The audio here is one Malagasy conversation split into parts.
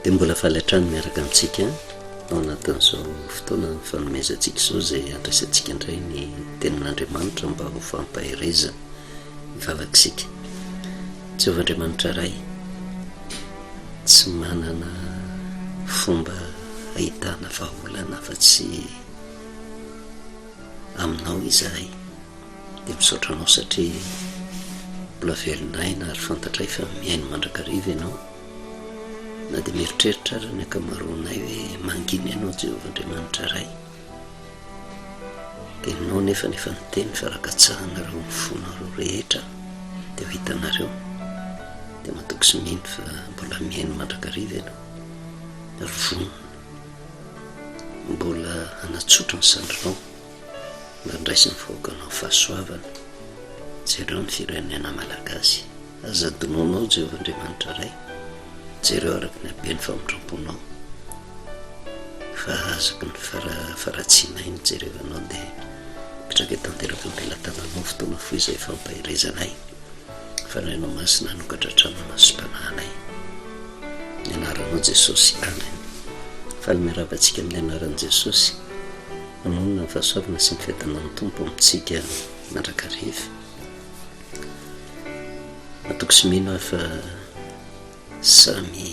Dia mbola faly hatrany miaraka amintsika ao anatin'izao fotoana nifanomezantsika izao izay handraisantsika indray ny tenin'Andriamanitra mba ho fampaherezana ny vavak'isika. Jehovah Andriamanitra Ray, tsy manana fomba ahitana vahaolana afa-tsy aminao izahay dia misaotra anao satria mbola velon'aina ary fantatray fa mihaino mandrakariva ianao na dia mieritreritra ary ny ankamaroanay hoe mangina ianao Jehovah Andriamanitra Ray dia aminao nefa ny efa niteny fa raha katsahanareo ny fonareo rehetra dia ho hitanareo dia matoky sy mino fa mbola mihaino mandrakariva ianao ary vonona Mbola hanatsotra ny sandrinao mba handraisin'ny vahoakanao fahasoavana. Jereo ny firenena malagasy. Aza adinoinao Jehovah Andriamanitra Ray. Jereo araka ny haben'ny famindram-ponao. Fa azaky ny fara-faharatsianay ny jereo anao dia mitraka tanteraka am-pelatananao fotoana fohy izay fampaherezanay. Fanahy anao masina hanokatra trano masom-panahinay ny anaranao Jesosy Amen faly miarahaba antsika amin'ny anaran'i Jesosy manoloana ny fahasoavana sy ny fiadanan'ny Tompo amintsika mandrakariva matoky sy mino aho fa samy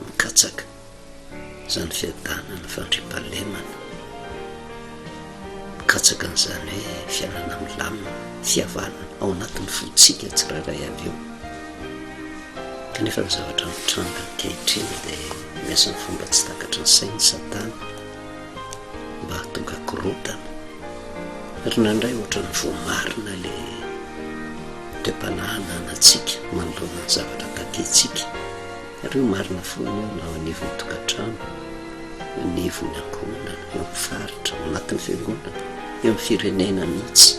Mikatsaka izany fiadanana ny fandriampahalemana, mikatsaka an'izany hoe fiainana milamina, fihavanana ao anatin'ny fontsika tsirairay avy eo. Kanefa ny zavatra mitranga ankehitriny dia miasa amin'ny fomba tsy takatry ny sain'i Satana. mba tonga korontana ry nandray ohatran'ny voamarina le toe-panahy ananantsika manoloana ny zavatra takentsika ary io marina foana io na ao anivon'ny tokantrano anivon'ny ankohonana eo amin'ny faritra ao anatin'ny fiangonana eo amin'ny firenena mihitsy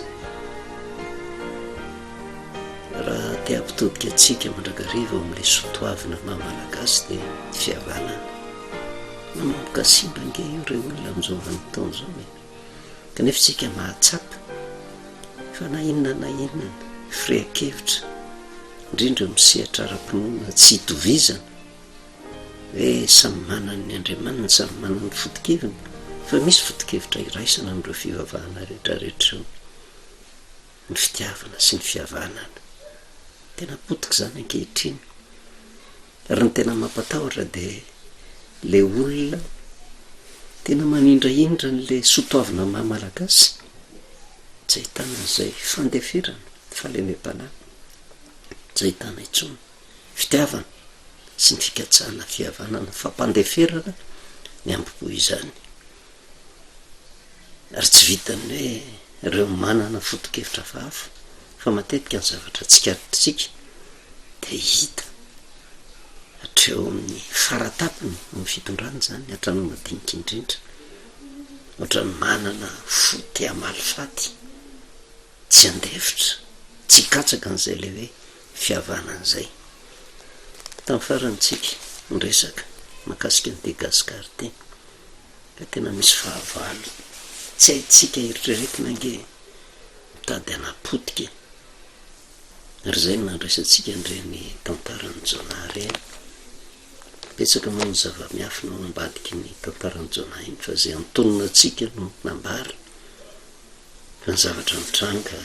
raha te hampitodika antsika mandrakariva ao amin'ilay sotoavina maha malagasy dia fihavanana Manomboka simba ange io re olona amin'izao vanim-potoana izao e! Kanefa isika mahatsapa fa na inona na inona firehan-kevitra, indrindra amin'ny sehatra ara-pinoana tsy itovizana, dia samy manana ny Andriamaniny, samy manana ny foto-keviny, fa misy foto-kevitra iraisana amin'ireo fivavahana rehetrarehetra ireo, ny fitiavana sy ny fihavanana. Tena potika izany ankehitriny. Raha ny tena mampatahotra dia ilay olona tena manindrahindra an'ilay soa toavina maha Malagasy, tsy ahitana an'izay fandeferana, fahalemem-panahy, tsy ahitana intsony fitiavana sy ny fikatsahana fihavanana, fampandeferana ny ambo-po izany. Ary tsy vitan'ny hoe ireo manana foto-kevitra hafahafa fa matetika ny zavatra tsikaritrisika. Dia hita hatreo amin'ny fara tampony amin'ny fitondrana izany, hatramin'ny madinika indrindra. Ohatran'ny manana fo te hamaly faty, tsy handefitra, tsy hikatsaka an'izay ilay hoe fihavanana izay. Tamin'ny farany tsika niresaka mahakasika an'i De Gascar ity, ka tena misy fahavalo tsy haintsika eritreretina ange e! Mitady hanapotika e! ary izay no handraisantsika an'ireny tantaran'i Jonah ireny. Betsaka moa ny zava-miafina ao ambadiky ny tantaran'i Jonah iny, fa izay antonona antsika no nambara, fa ny zavatra nitranga,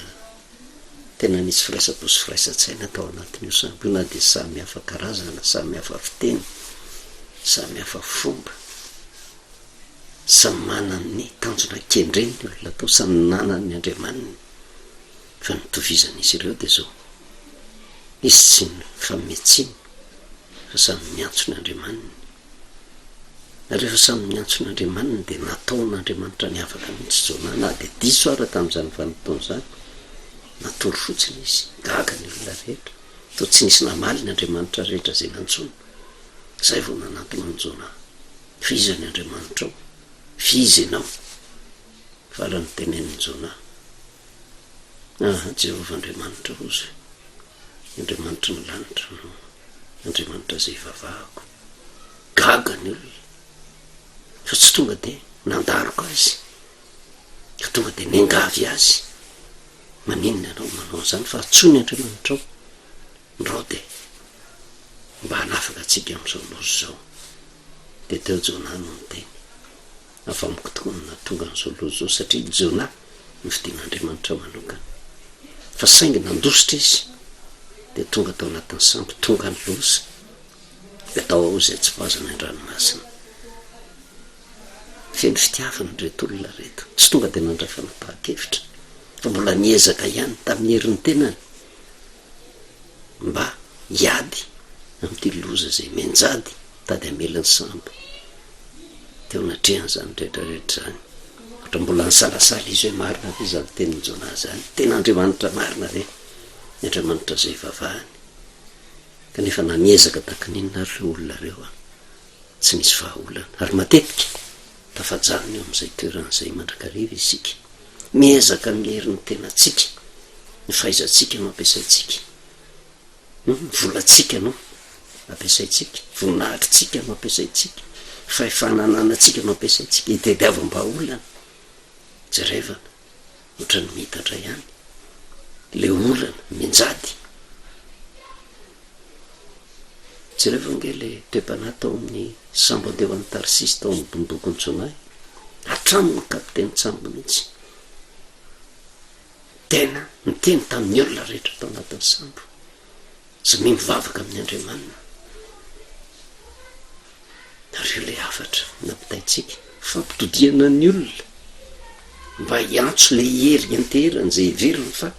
tena nisy firaisampo sy firaisan-tsaina tao anatin'io sambo io, na dia samy hafa karazana, samy hafa fiteny, samy hafa fomba, samy manana ny tanjona kendreny ny olona tao, samy nanana ny andriamaniny. Fa ny itovizan'izy ireo dia izao, izy tsy mifanome tsiny fa samy miantso ny andriamaniny. Na rehefa samy niantso ny andriamaniny dia nataon'Andriamanitra niavaka mihitsy Jonah na dia diso ara tamin'izany vanim-potoana izany. Natory fotsiny izy. Gaga ny olona rehetra. Toa tsy nisy namaly ny andriamanitra rehetra izay nantsoina. Izay vao nanantona an'i Jonah. Fa iza ny andriamanitrao? F'iza ianao? Farany tenenin'i Jonah. Ah, Jehovah Andriamanitra Ozy, Andriamanitry ny lanitra no Andriamanitra izay ivavahako. Gaga ny olona, fa tsy tonga dia nandaroka azy, ka tonga dia niangavy azy. Maninona ianao manao an'izany fa atsoy ny Andriamanitrao? Ndrao dia mba hanafaka antsika amin'izao loza izao. Dia teo Jonah no niteny, Avy amiko tokoa no nahatonga an'izao loza izao, satria i Jona nofidian'Andriamanitra manokana. Fa saingy nandositra izy, dia tonga tao anatin'ny sambo, tonga ny loza, dia tao ao izay tsy voazana an-dranomasina. Feno fitiavana ireto olona ireto. Tsy tonga dia nandray fanapahan-kevitra, fa mbola niezaka ihany tamin'ny herin'ny tenany. mba hiady amin'ity loza izay mianjady tady hamela ny sambo teo anatrehan'izany rehetra rehetra izany. Ohatra mbola nisalasala izy hoe marina ve izany tenin'i Jonah izany? Tena Andriamanitra marina ve ny Andriamanitra izay ivavahany? Kanefa na miezaka tahaka ny inona ary ireo olona ireo, tsy nisy vahaolana. Ary matetika Tafajanona eo amin'izay toerana izay mandrakariva isika. Miezaka mihery ny tenantsika, ny fahaizantsika no ampiasaintsika, ny volantsika no ampiasaintsika, voninahitritsika no ampiasaintsika, fahefana ananantsika no ampiasaintsika, itadiavam-bahaolana, jerevana, ohatran'ny miitatra ihany ilay olana, mianjady. Jereo ve ange ilay toe-panahy tao amin'ny sambo handeha ho any Tarsisy tao amin'ny bondokon'i Jonah e! Hatramin'ny kapitenin-tsambo mihitsy tena niteny tamin'ny olona rehetra tao anatin'ny sambo, izay miha mivavaka amin'ny Andriamaniny. Nareo ilay hafatra nampitaintsika. Fampitodihana ny olona mba hiantso ilay hery hianteherana izay heveriny fa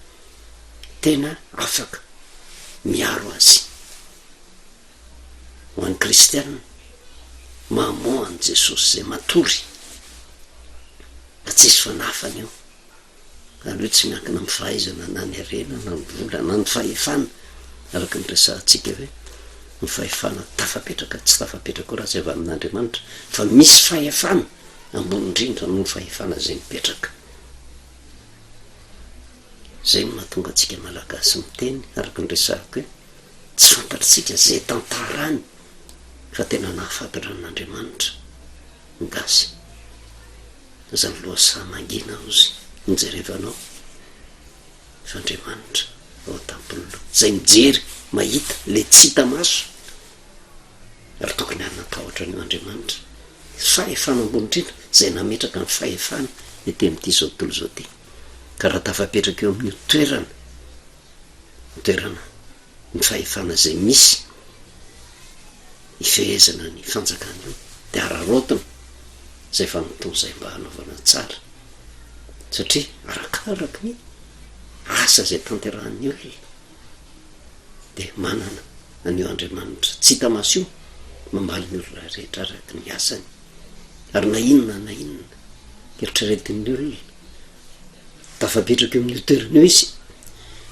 tena afaka miaro azy. Ho an'ny kristiana, mahamoa an'i Jesosy izay matory, fa tsy hisy fanafany io. Izany hoe tsy miankina amin'ny fahaizana na ny harena na ny vola na ny fahefana araka ny resahantsika hoe ny fahefana tafapetraka tsy tafapetraka io raha tsy avy amin'Andriamanitra fa misy fahefana ambony indrindra noho ny fahefana izay mipetraka. Izay no mahatonga antsika Malagasy miteny araka ny resahako hoe tsy fantatritsika izay tantarany fa tena nahafantatra an'Andriamanitra. Gasy. Zany lohasaha mangina ozy nijerevanao fa Andriamanitra ao antampony zay mijery mahita le tsy hita maso ary tokony hanana tahotra an'io Andriamanitra fahefana ambony indrindra zay nametraka ny fahefany ety amin'ity zao tontolo zao ty ka raha tafapetraka eo amin'io toerana toerana ny fahefana izay misy hifehezana ny fanjakana io dia araraotina izay fanompoana izay mba hanaovana tsara satria arakaraky ny asa izay tanterahan'ny olona dia manana an'io Andriamanitra tsy hita maso io mambaly ny olona rehetra araky ny asany. ary na inona na inona eritreretin'ny olona tafapetraka eo amin'io toerana io izy,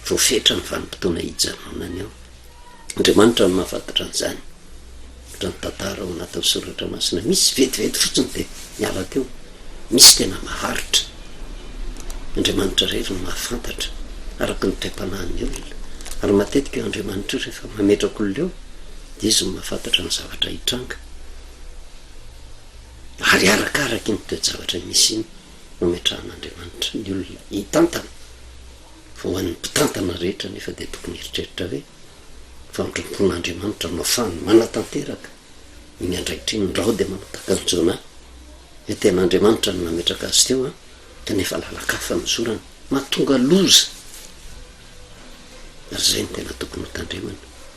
voafetra ny vanim-potoana hijanonany ao. Andriamanitra no mahafantatra an'izany. Raha ny tantara ao anatin'ny soratra masina misy, vetivety fotsiny dia miala teo. Misy tena maharitra. Andriamanitra irery no mahafantatra, araka ny toe-panahin'ny olona. Ary matetika io Andriamanitra io rehefa mametraka olona eo, dia izy no mahafantatra ny zavatra hitranga. Ary arakaraky iny toe-javatra misy iny no ametrahan'Andriamanitra ny olona hitantana. Fa ho an'ny mpitantana rehetra anefa dia tokony hieritreritra hoe, famindram-pon'Andriamanitra no afahany manatanteraka iny andraikitra iny, ndrao dia manao takanjona ahy, hoe tena Andriamanitra no nametraka azy teo an, kanefa lalan-kafa no zorany, mahatonga loza. Ary izay no tena tokony hotandremana.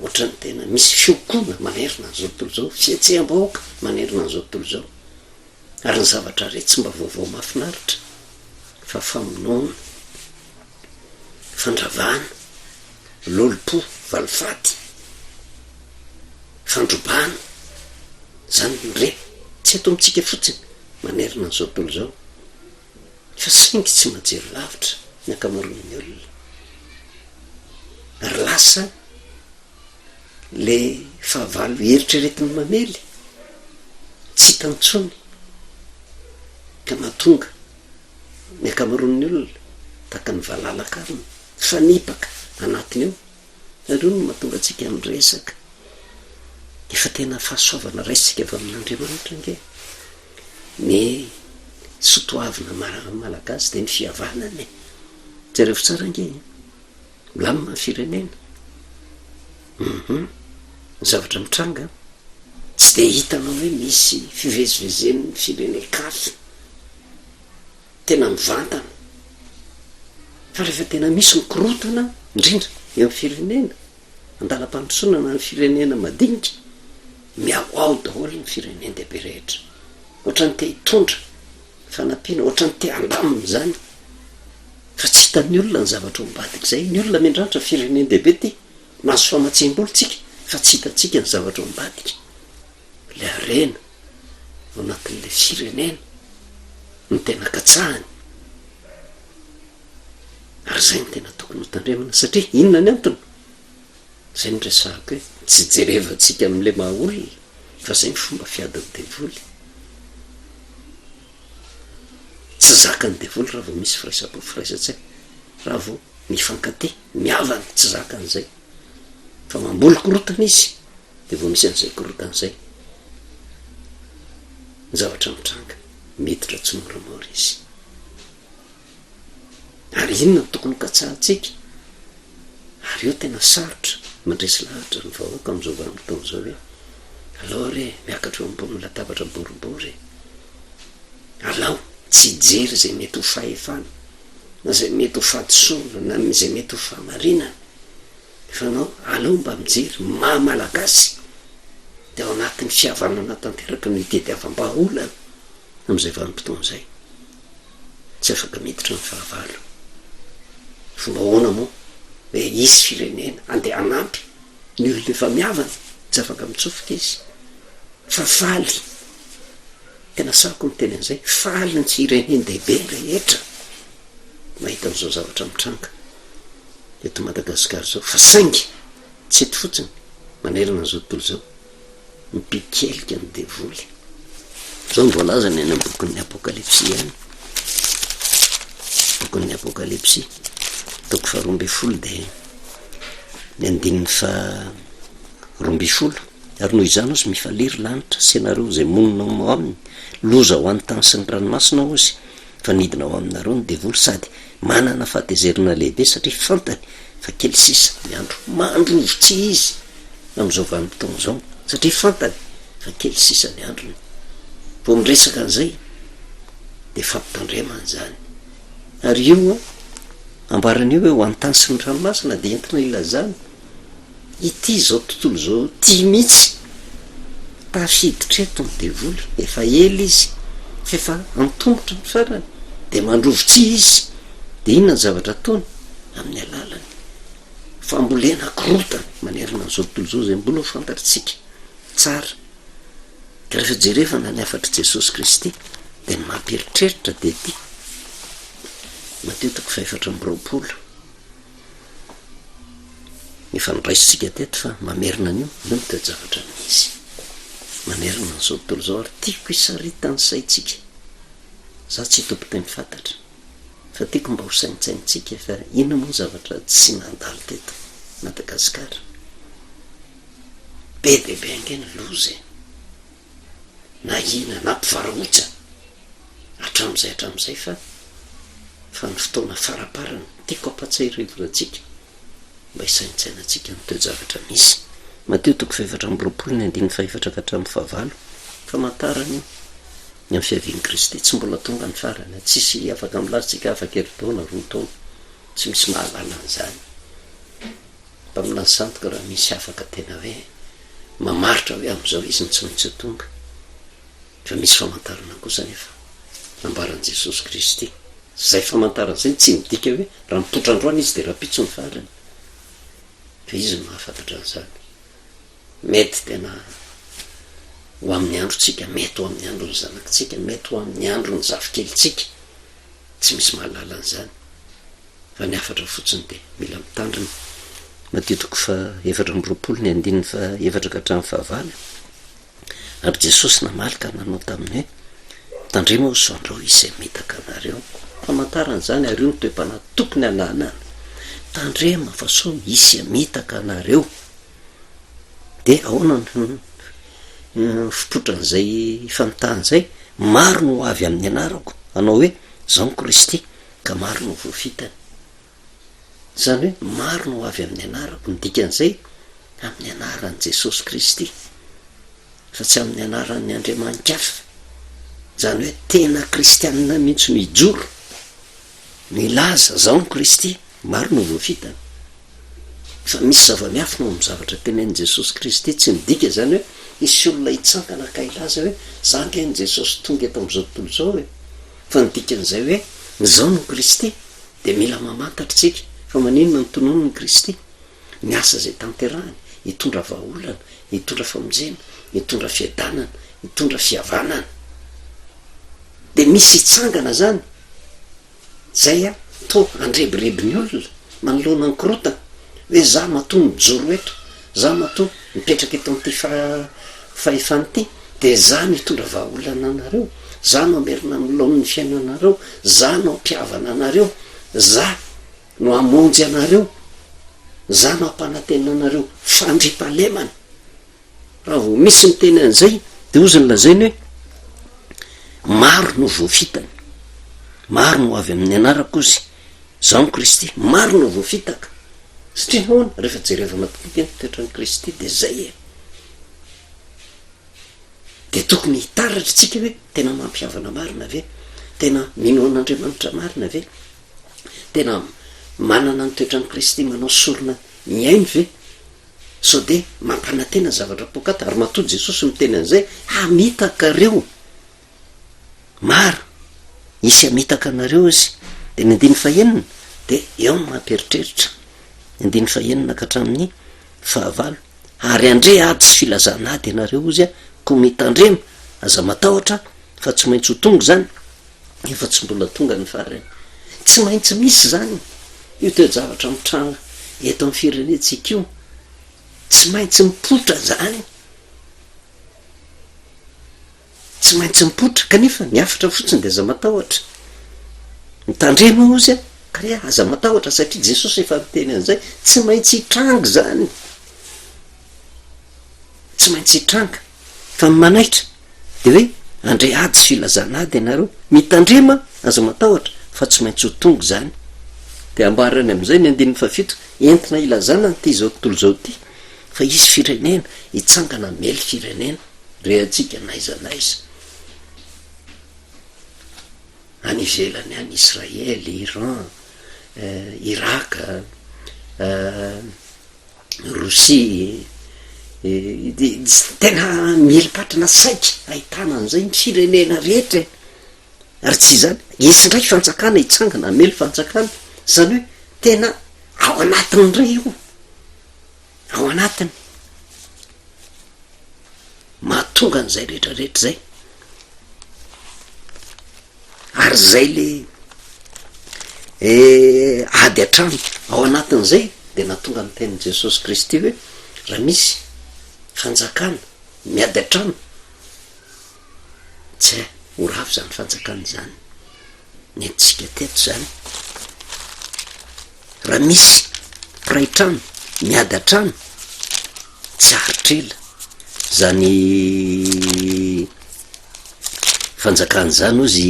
Ohatran'ny tena misy fiokoana manerana an'izao tontolo izao, fihetseham-bahoaka manerana an'izao tontolo izao. Ary ny zavatra re tsy mba vaovao mahafinaritra fa famonoana, fandravana, lolompo, valifaty, fandrobana, izany re tsy eto amintsika fotsiny manerana an'izao tontolo izao. fa saingy tsy mahajery lavitra ny ankamaroan'ny olona ary lasa le fahavalo eritreretin'ny mamely tsy hita intsony ka mahatonga ny ankamaroan'ny olona tahaka ny valala karona mifanipaka anatiny ao Ianareo no mahatonga antsika miresaka. Efa tena fahasoavana raisintsika avy amin'Andriamanitra ange. Ny sotoavina malagasy dia ny fihavanana e. Jereo tsara ange e. Milamina ny firenena. Hum. Ny zavatra mitranga tsy dia hitanao hoe misy fivezivezen'ny firenen-kafa. tena mivantana fa rehefa tena misy ny korontana indrindra eo amin'ny firenena, andalam-pandrosoana na ny firenena madinika, mihahoaho daholo ny firenen-dehibe rehetra, ohatran'ny te hitondra fanampiana, ohatran'ny te handamina izany fa tsy hitan'ny olona ny zavatra ao ambadik'izay, ny olona miandrandra firenen-dehibe ity, mahazo famatsiam-bolo tsika fa tsy hitantsika ny zavatra ao ambadika, ilay harena. ao anatin'ilay firenena no tena katsahany ary zay no tena tokony ho tandremana satria inona ny antony zay no resahako hoe tsy jerevantsika amin'ilay maha olona fa zay ny fomba fiadin'ny devoly tsy zakan'ny devoly raha vao misy firaisam-po firaisan-tsaina raha vao mifankatia mihavana tsy zakan'izay fa mamboly korotana izy Dia vao misy an'izay korontana izay ny zavatra mitranga. Miditra tsimoramora izy. Ary inona no tokony hokatsahantsika? Ary io tena sarotra mandresy lahatra ny vahoaka amin'izao vanim-potoana izao hoe alao re miakatra eo ambony latabatra boribory e! Alao tsy hijery izay mety ho fahefana na izay mety ho fahadisoana na izay mety ho fahamarinana. Fanao, aleo mba mijery maha Malagasy dia ao anatin'ny fihavanana tanteraka no itediavam-bahaolana amin'izay vanim-potoana izay. Tsy afaka miditra ny fahavalo. Fomba ahoana moa hoe hisy firenena handeha hanampy ny olona efa mihavana? Tsy afaka mitsofoka izy. Fa faly, tena sahako ny miteny an'izay, faly ny tsirenen-dehibe rehetra mahita an'izao zavatra mitranga. eto Madagasikara izao fa saingy tsy eto fotsiny manerana an'izao tontolo izao ny mpikelika ny devoly. Izao no voalazany any amin'ny bokin'ny Apokalypsy ihany. Bokin'ny Apokalypsy, toko faharoa ambin'ny folo dia ny andininy fa roa ambin'ny folo ary noho izany ozy mifaliry lanitra sy ianareo izay monina ao aminy loza ho an'ny tany sy ny ranomasina ozy fa midina ao aminareo ny devoly sady manana fahatezerana lehibe satria fantany fa kely sisa ny andro. Mandroso tsy izy amin'izao vanim-potoana izao satria fantany fa kely sisa ny androny. Vao miresaka an'izay dia fampitandremana izany. Ary io ambarany io hoe ho an'ny tany sy ny ranomasina dia entina ilazana ity izao tontolo izao ity mihitsy ary hiditra eto ny devoly efa ela izy fa efa antomotra ny farany dia mandrovo tsihy izy dia inona ny zavatra ataony amin'ny alalan'ny fambolena korotana manerana an'izao tontolo izao izay mbola ho fantatritsika tsara ka rehefa jerevana ny hafatr'i Jesosy Kristy dia ny mampieritreritra dia ity Mateo toko fahefatra amby roapolo Efa noraisintsika teto fa mamerina an'io, io no toe-javatra misy. Mamerina an'izao tontolo izao ary tiako hisaritan'ny saintsika. Izaho tsy tompon-teny fantatra fa tiako mba ho saintsaintsika fa inona moa ny zavatra tsy nandalo teto Madagasikara? Be dia be ange ny loza e! na hina na mpivarahotsa hatramin'izay hatramin'izay fa fa ny fotoana faraparany tiako ampatsiahirevo antsika mba hisaintsainantsika ny toe-javatra misy Mateo toko fahefatra amby roapolo ny andininy fahefatra ka hatramin'ny fahavalo famantarana io ny amin'ny fiavian'i Kristy tsy mbola tonga ny farany a tsisy afaka milaza tsika afakerin-taona roa taona tsy misy mahalala an'izany Mpaminany sandoka raha misy afaka tena hoe mamaritra hoe amin'izao izy no tsy maintsy ho tonga. Fa misy famantarana kosa anefa nambaran'i Jesosy Kristy. Izay famantarana izay tsy midika hoe raha mipoitra androany izy dia rahampitso ny farany. Fa izy no mahafantatra an'izany. Mety tena ho amin'ny androntsika, mety ho amin'ny andron'ny zanakitsika, mety ho amin'ny andron'ny zafikelintsika. Tsy misy mahalala an'izany. Raha ny hafatra fotsiny dia mila mitandrina. Matio toko fahaefatra amby roapolo ny andininy fahaefatra ka hatramin'ny fahavalo. Ary Jesosy namaly ka nanao taminy hoe, Tandremo aho sao andrao hisy hamitaka anareo. Famantarana izany ary io no toe-panahy tokony hananana. Tandremo fa sao hisy hamitaka anareo. Dia ahoana no fipotran'izay famitahana izay? Maro no ho avy amin'ny anarako, hanao hoe, Izaho no Kristy. Ka maro no voafitany. Izany hoe maro no ho avy amin'ny anarako, ny dikan'izay, amin'ny anaran'i Jesosy Kristy, fa tsy amin'ny anaran'ny andriamani-kafa. Izany hoe tena kristianina mihitsy no hijoro, no hilaza, Izaho no Kristy. Maro no voafitany. Fa misy zava-miafina ao amin'ny zavatra tenenin'i Jesosy Kristy. Tsy midika izany hoe hisy olona hitsangana ka hilaza hoe, Izaho ange ny Jesosy tonga eto amin'izao tontolo izao e! Fa ny dikan'izay hoe Izaho no Kristy dia mila mamantatra isika fa maninona no tononin'i Kristy ny asa izay tanterahiny, hitondra vahaolana, hitondra famonjena, hitondra fiadanana, hitondra fihavanana. Dia misy hitsangana izany, izay an, toa handrebireby ny olona manoloana ny korotana, hoe izaho matoa mijoro eto, Za matoa mipetraka eto amin'ity fahefana ity dia za no hitondra vahaolana anareo, za no hamerina ny laoniny fiainanareo, za no hampihavana anareo, za no hamonjy anareo, za no hampanantena anareo fandriampahalemana. Raha vao misy miteny an'izay dia hozy ny lazainy hoe maro no voafitany, maro no ho avy amin'ny anarako hozy. Izaho amin'i Kristy, maro no voafitaka. Satria nahoana? Rehefa jereva madinidinika ny toetran'i Kristy dia izay e! Dia tokony hitaratra isika hoe tena mampihavana marina ve? Tena mino an'Andriamanitra marina ve? Tena manana ny toetran'i Kristy manao sorona mihaino ve? Sao dia mampanantena zavatra poakata? Ary matoa Jesosy miteny an'izay, Hamitaka ireo maro hisy hamitaka anareo izy dia ny andininy fahenina dia eo no mampieritreritra ny andininy fahenina ka hatramin'ny fahavalo ary andre ady sy filazana ady ianareo ozy a ko mitandrema aza matahotra fa tsy maintsy ho tonga izany efa tsy mbola tonga ny farany tsy maintsy misy izany io toe-javatra mitranga eto amin'ny firenentsika io tsy maintsy mipoitra izany Tsy maintsy mipoitra, kanefa ny hafatra fotsiny dia aza matahotra. Mitandrema hozy a! Ka re, aza matahotra, satria Jesosy efa niteny an'izay. Tsy maintsy hitranga izany. Tsy maintsy hitranga. Fa ny manaitra, dia hoe, Handre ady sy filazana ady ianareo. Mitandrema, aza matahotra, fa tsy maintsy ho tonga izany. Dia ambarany amin'izay ny andininy fahafito, Entina hilazana an'ity izao tontolo izao ity, fa hisy firenena hitsangana hamely firenena. rehantsika n'aiza n'aiza any ivelany any, Israely, Iran, Iraka, Rosia, tena mila patrana saika ahitana an'izay ny firenena rehetra e, ary tsy izany, hisy indray fanjakana hitsangana hamely fanjakana, izany hoe tena ao anatin'ny iray io. ao anatiny, mahatonga an'izay rehetra rehetra zay, ary zay le eh, ady an-trano ao anatin'izay de nahatonga ny tenin'i Jesosy Kristy hoe raha misy fanjakana miady an-trano tsy hay ho ravo zany fanjakana zany nentintsika teto zany. Raha misy mpiray trano miady an-trano, tsy haharitra ela izany fanjakana izany hozy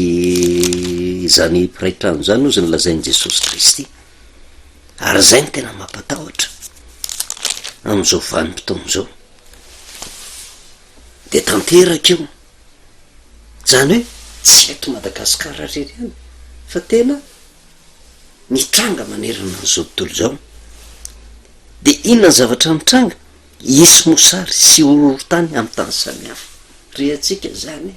izany mpiray trano izany hozy no lazain'i Jesosy Kristy. Ary izay no tena mampatahotra amin'izao vanim-potoana izao. Dia tanteraka io. Izany hoe tsy eto Madagasikara irery ihany fa tena. mitranga manerana an'izao tontolo izao, dia inona ny zavatra mitranga? Hisy mosary sy horohorontany amin'ny tany samihafa. Rehatsika izany e!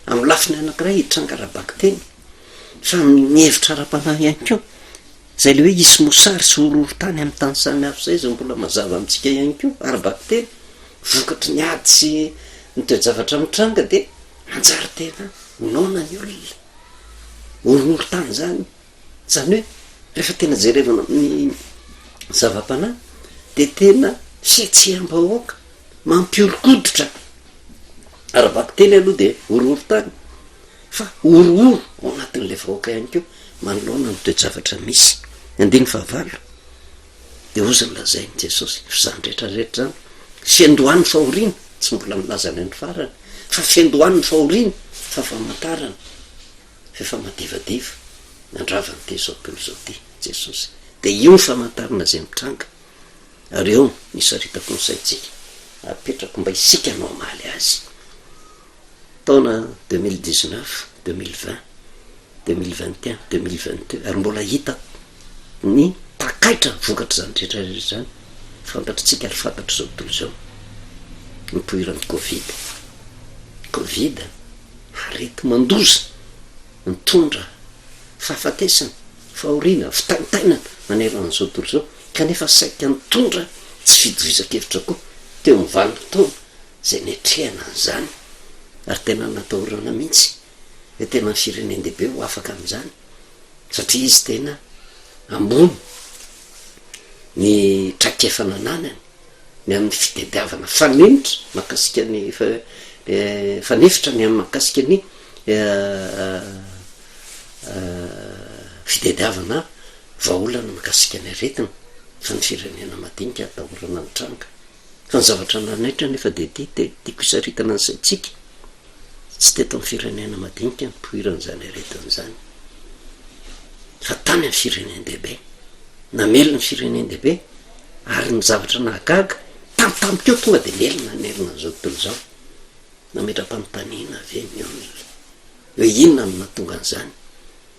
Amin'ny lafiny anankiray hitranga ara-bakiteny, fa amin'ny hevitra ara-panahy ihany koa. Izay ilay hoe hisy mosary sy horohorontany amin'ny tany samihafa izay, izay mbola mazava amintsika ihany koa ara-bakiteny. Vokatry ny ady sy ny toe-javatra mitranga dia hanjary tena noana ny olona. horohorontany izany, izany hoe rehefa tena jerevana amin'ny zava-panahy dia tena fihetseham-bahoaka mampihoron-koditra, ara-bakiteny aloha dia horohorontany fa horohoro ao anatin'ilay vahoaka ihany koa manoloana ny toe-javatra misy, andininy fahavalo. Dia hozy nolazain'i Jesosy, Izany rehetra rehetra izany, fiandohan'ny fahoriana, tsy mbola nilaza ilay ny farany, fa fiandohan'ny fahoriana, fa famantarana, f'efa madivadiva, nandrava an'ity izao tontolo izao ity, Jesosy. Dia io ny famantarana izay mitranga, ary eo no isaritako ny saintsika, apetrako mba isika no hamaly azy. taona deux mille dix neuf, deux mille vingt, deux mille vingt et un, deux mille vingt deux ary mbola hita ny takaitra vokatr'izany rehetra rehetra izany, fantatritsika ary fantatr'izao tontolo izao ny nipoiran'ny covid. Covid areti-mandoza nitondra fahafatesana, fahoriana, fitaintainana manerana an'izao tontolo izao kanefa saika nitondra tsy fitovizan-kevitra koa teo amin'ny vanim-potoana izay niatrehana an'izany ary tena natahorana mihitsy dia tena firenen-dehibe ho afaka amin'izany satria izy tena ambony ny traikefa nananany ny amin'ny fitediavana fanenitra makasika ny eh, fanefitra ny amin'ny makasika ny eh, eh, fitediavana vahaolana makasika ny aretina fa ny firenena madinika atahorana ny tranga Fa ny zavatra nanaitra anefa dia ity, dia tiako hisaritana ny saintsika, tsy teto amin'ny firenena madinika no nipoiran'izany aretina izany, fa tany amin'ny firenen-dehibe. Namely ny firenen-dehibe, ary ny zavatra nahagaga, tampotampoka tonga dia nely ny nanerana an'izao tontolo izao. Nametra-panontaniana ve ny olona hoe inona no nahatonga an'izany?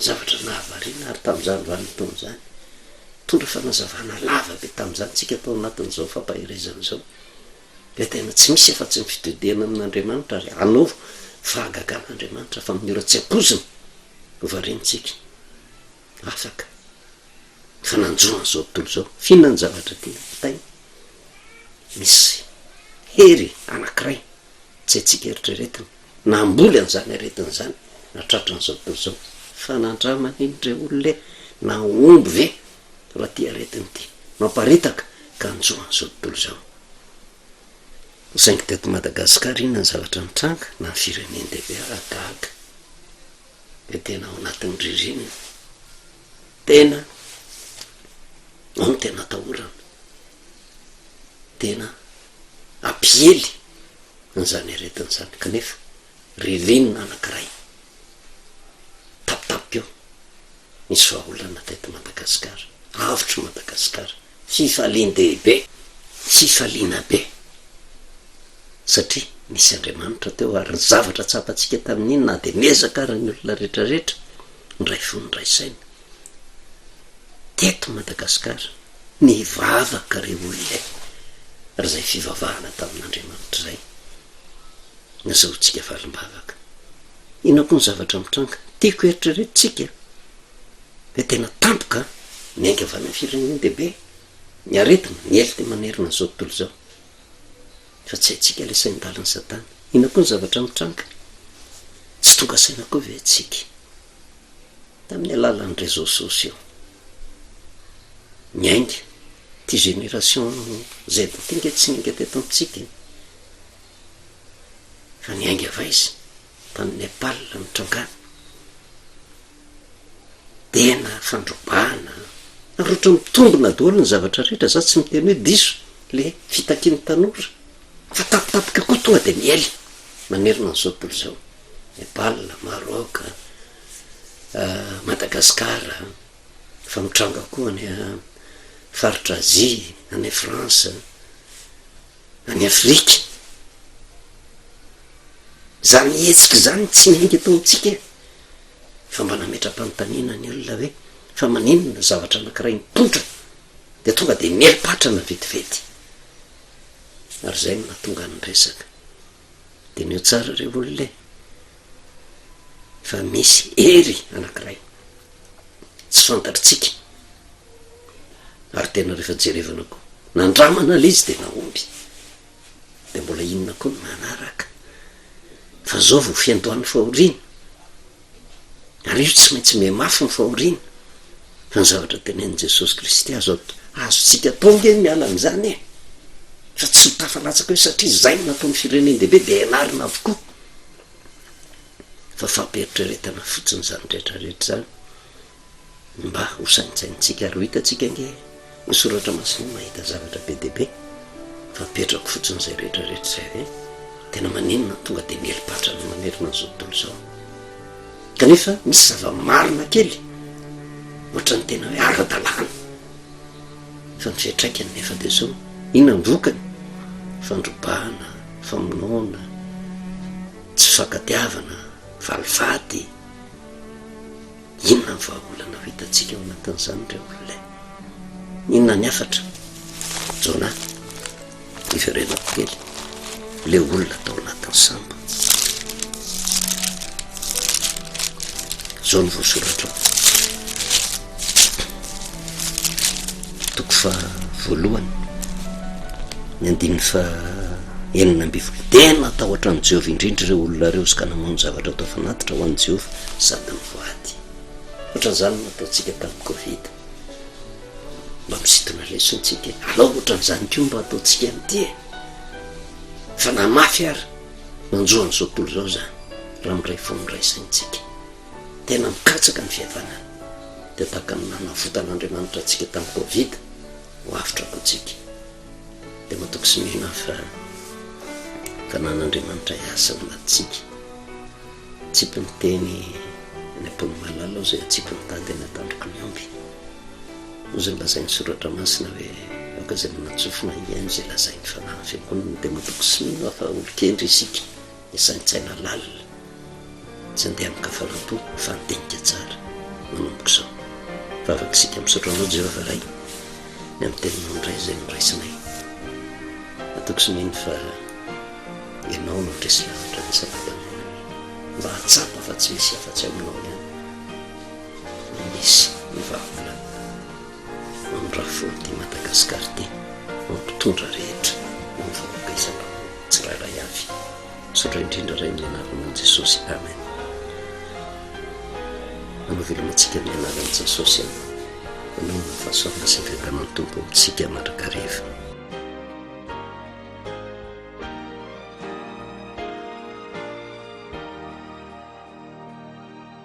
zavatra nahavariana ary tamin'izany vanim-potoana izany, nitondra fanazavana lava be tamin'izany isika tao anatin'izao fampaherezana izao, ilay tena tsy misy afa-tsy ny fitodihana amin'Andriamanitra ary hanovo fahagagana Andriamanitra fa amin'ny ora tsy ampoizina no variantsika afaka ny fananjo an'izao tontolo izao, f'inona ny zavatra tiana ampitaina? Misy hery anankiray tsy haintsika eritreretina. Namboly an'izany aretina izany na tratran'izao tontolo izao fa nandramany iny re olona e! Nahomby ve raha ity aretina ity mamparitaka ka hanjo an'izao tontolo izao? Saingy teto Madagasikara inona ny zavatra nitranga na ny firenen-dehibe ary gaga dia tena ao anatin'ny ririnina tena ao no tena atahorana. tena hampiely an'izany aretina izany kanefa ririnina anankiray tapitapika eo misy vahaolana teto Madagasikara, avotry Madagasikara, fifalian-dehibe, fifaliana be satria nisy Andriamanitra teo ary ny zavatra tsapantsika tamin'iny na dia niezaka ary ny olona rehetrarehetra niray fo niray saina teto Madagasikara. Nivavaka ry olona e! ary izay fivavahana tamin'Andriamanitra izay no azahoantsika valim-bavaka. Inona koa ny zavatra mitranga? Tiako heritreretintsika fa tena tampoka ny haingam-by any amin'ny firenen-dehibe, ny aretina, ny heloka manerana an'izao tontolo izao, fa tsy haintsika ilay sain-dalin'i Satana. Inona koa ny zavatra mitranga? Tsy tonga saina koa ve isika? tamin'ny alalan'ny réseaux sociaux. Niainga ity génération Z ity nge tsy niainga teto amintsika e! fa niainga vaizy tany Nepal nitrangana. Tena fandrobana, ary ohatra mitombina daholo ny zavatra rehetra, za tsy miteny hoe diso le fitakian'ny tanora. Fa tapitapika koa tonga dia miely manerana an'izao tontolo izao, Nepal, Maroc, Madagascar, efa mitranga koa any faritra Azia, any France, any Afrika. Izany hetsika izany tsy miainga eto amintsika e! Fa mba nametra-panontaniana ny olona hoe fa maninona zavatra anankiray mipoitra dia tonga dia mieli-patrana vetivety? ary izay no nahatonga ny resaka. Diniho tsara re olona e! fa misy hery anankiray tsy fantatritsika ary tena rehefa jerevana koa nandramana lay izy dia nahomby dia mbola inona koa ny manaraka fa zao vao fiandohan'ny fahoriana ary io tsy maintsy mihamafy ny fahoriana, fa ny zavatra tenenin'i Jesosy Kristy azo atao, azontsika atao ange ny miala amin'izany e! fa tsy ho tafalatsaka eo, satria izay no nataon'ny firenen-dehibe dia hianarana avokoa, fa fampieritreretana fotsiny izany rehetra rehetra izany. Mba ho saintsaintsika ary ho hitantsika ange ny soratra masina mahita zavatra be dia be fa apetrako fotsiny izay rehetra rehetra izay hoe tena maninona tonga dia mieli-patra ny mamerina an'izao tontolo izao kanefa misy zava-marina kely ohatran'ny tena hoe ara-dalàna fa ny fiatraikany nefa dia zao inona ny vokany fandrobana famonoana tsy fankatiavana valifaty Inona ny vahaolana ho hitantsika ao anatin'izany, ry olona e? Inona ny hafatra? Jonah, hiverenako kely, ilay olona tao anatin'ny sambo. Izao no voasoratrao. Toko faha voalohany, ny andininy faha enina ambin'ny folo. Dia natahotra an'i Jehovah indrindra ireo olona ireo izy ka namono zavatra atao fanatitra ho an'i Jehovah sady nivoady. Hoatran'izany no nataontsika tamin'ny Covid. Mba misintona lesona isika e! Alao hoatran'izany koa mba hataontsika amin'ity e! Fa na mafy ary, manjo an'izao tontolo izao izany, raha miray fo miray saintsika. Tena mikatsaka ny fihavanana. Dia tahaka ny nanavotan'Andriamanitra antsika tamin'ny covid, ho avotra koa tsika. Dia matoky sy mihina fa Tanàn'Andriamanitra hiasa ao anatintsika. Atsipy ny teny any am-pon'i Malala ao izay atsipy ny tady any an-tandroky ny omby. Hoy izay lazain'ny Soratra Masina hoe, Aoka izay manatsofina hihaino izay lazain'ny Fanahin'ny Fiangonana. Dia matoky sy mino aho fa olon-kendry isika. Ny saintsaina lalina, tsy andeha amin-kafalam-po fa andinika tsara, manomboka izao. Vavaka isika misaotra Anao Jehovah Ray ny amin'ny Teninao indray izay noraisinay. Matoky sy mino fa Ianao no handresy lanitra ny Sabata androany mba hahatsapa fa tsy misy afa-tsy Aminao ihany no misy ny vahaolana. Andrafoy ity Madagascar ity fa mpitondra rehetra ho vahoaka isam-bahoaka tsirairay avy. Misaotra indrindra Ray amin'ny anaranan'i Jesosy Amen. Anao veloma antsika amin'ny anaran'i Jasosy an. Anao no fahasoavana sy ny fiadanan'ny Tompo amintsika mandrakariva.